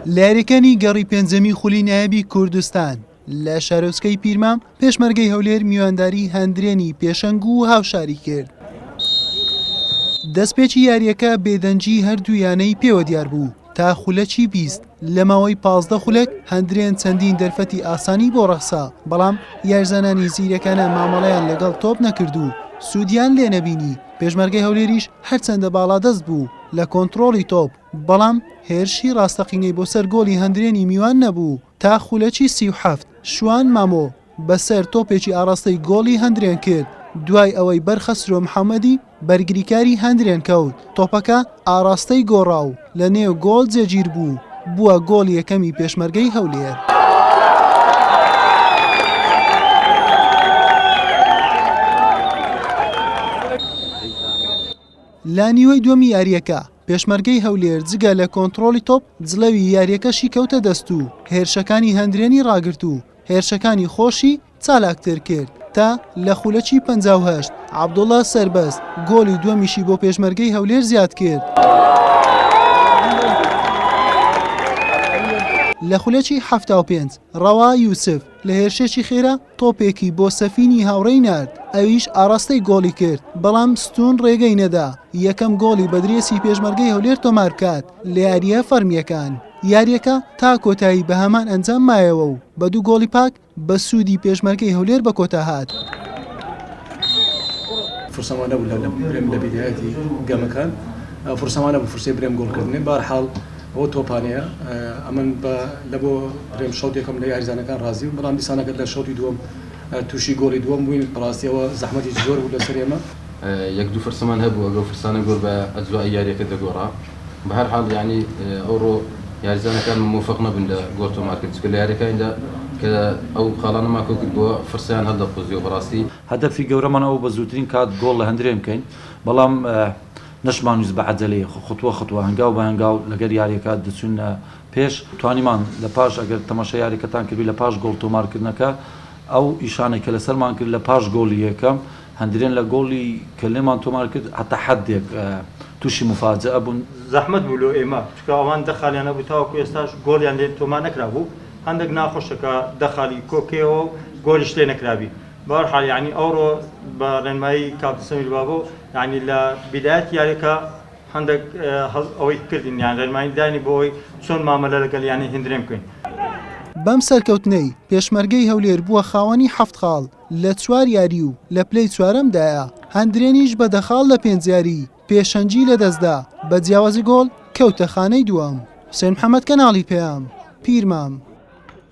لە یاریەکانی گەڕی پێنجەمی خولی نایبی کوردستان لە شارۆچکەی پیرمام پێشمەرگەی هەولێر میوانداری هەندرێنی پێشەنگ و هاوشاری کرد. دەستپێکی یاریەکە بێدەنگی هەردوو یانەی پێوە دیار بوو تا خولەکی بیست لە ماوەی پازدە خولەک هەندرێن چەندین دەرفەتی ئاسانی بۆ ڕەخسا بەڵام یارزانانی زیرەکانە مامەڵەیان لەگەڵ تۆپ نەکرد و سوودیان لێ نەبینی پێشمەرگەی هەولێریش هەرچەندە باڵادەست بوو لە کۆنتڕۆڵی تۆپ، بەڵام هێرشی ڕاستەقینەی بۆ سەر گۆڵی هەندرێنی میوان نەبوو تا خولەکی سی و حەفت، شوان مامۆ بە سەر تۆپێکی ئاڕاستەی گۆڵی هەندرێن کرد، دوای ئەوەی بەر خەسرۆ محەمەدی بەرگریکاری هەندرێن کەوت، تۆپەکە ئاڕاستەی گۆڕا و لە نێو گۆڵ جێگیر بوو، بووە گۆڵی یەکەمی پێشمەرگەی هەولێر. لە نیوەی دووەمی یارییەکە، پێشمەرگەی هەولێر جگە لە کۆنتڕۆڵی تۆپ، جڵەوی یارییەکەشی کەوتە دەست و هێرشەکانی هەندرێنی ڕاگرت و هێرشەکانی خۆشی چالاکتر کرد تا لە خولەکی پەنجا و هەشت عەبدوڵا سەربەست گۆڵی دووەمیشی بۆ پێشمەرگەی هەولێر زیاد کرد. لە خولەکی حەفتا و پێنج ڕەوا یوسف لە هێرشێکی خێرا تۆپێکی بۆ سەفینی هاوڕێی نارد ئەویش ئاڕاستەی گۆڵی کرد بەڵام ستون ڕێگەی نەدا یەکەم گۆڵی بەدرێسی پێشمەرگەی هەولێر تۆمار بکات لە یارییە فەرمییەکان یاریەکە تا کۆتایی بە هەمان ئەنجام مایەوە و بە دوو گۆڵی پاک بە سوودی پێشمەرگەی هەولێر بە کۆتا هات. فرسەم وا نەبوو لەو برێم لە بیدایەتی گەمەکان فرسەم وا نەبوو فرسەی برێم گۆڵ کردنێ بار حاڵ ئەوە تۆپانەیە ئەمن بە لە بۆ برێم شەوت یەکەم لە یاریزانەکان ڕازی و بەڵام دیسانەکە لە شەوتی دووەم تووشی گۆڵی دووەم بووین بەڕاستیەوە زەحمەتی زۆر بوو لەسەر ئێمە. یەک دوو فرسەمان هەبوو ئەگەو فرسانە گۆل بایە ئەجزا یاریەکە دەگۆڕا. بەهەرحاڵ یەعنی ئەوڕۆ یاریزانەکانمان مۆفەق نەبوون لە گۆڵ تۆمارکرد چونکە لە یاریەکانیدا کە ئەو خاڵانە مان کۆکردبووە فرسەیان هەلدەقوزیەوە بەڕاستی. هەدەفی گەورەمان ئەوبوو بە زووترین کات گۆڵ لە هەندرێن بکەین بەڵام نەشمانویست بە عەجەلەی خوتوە خوتوە هەنگاو بە هەنگاو لەگەر یاریەکە دەچوین پێش توانیمان لە پاش ئەگەر تەماشای یاریەکەتان کردبی لە پاش گۆڵ تۆمارکردنەکە ئەو ئیشانەی کە لەسەرمان کرد لە پاش گۆڵی یەکەم هەندرێن لە گۆڵی کە لێمان تۆمار کرد هەتا حەدێک تووشی موفاجەئە بوون. زەحمەت بوو لۆ ئێمە، چونکە ئەوان دە خالیان هەبوو تاوەکو ئێستاش گۆڵیان لێ تۆمار نەکرابوو، هەندەک ناخۆشە کە دە خالی کۆ کەیەوە و گۆڵیش لێ نەکرابی. بە هەر حال یانی ئەوڕۆ بە رێنمایی کاپتن سەمیر بابۆ یانی لە بیدایەتی یاریەکە هەندەک ئەوەی کردین یان رێنمایی داینی بۆ ئەوەی چۆن مامەلە لەگەڵ یانەی هندرێن بکەین. بەم سەرکەوتنەی، پێشمەرگەی هەولێر بووە خاوەنی حەفت خاڵ. لە چوار یاری و لە پلەی چوارەمدایە، هەندرێنیش بە دە خاڵ لە پێنج یاری پێشەنگی لەدەستدا، بە جیاوازی گۆڵ کەوتە خانەی دووەم. حوسێن محەمەد، کەناڵی پەیام، پیرمام.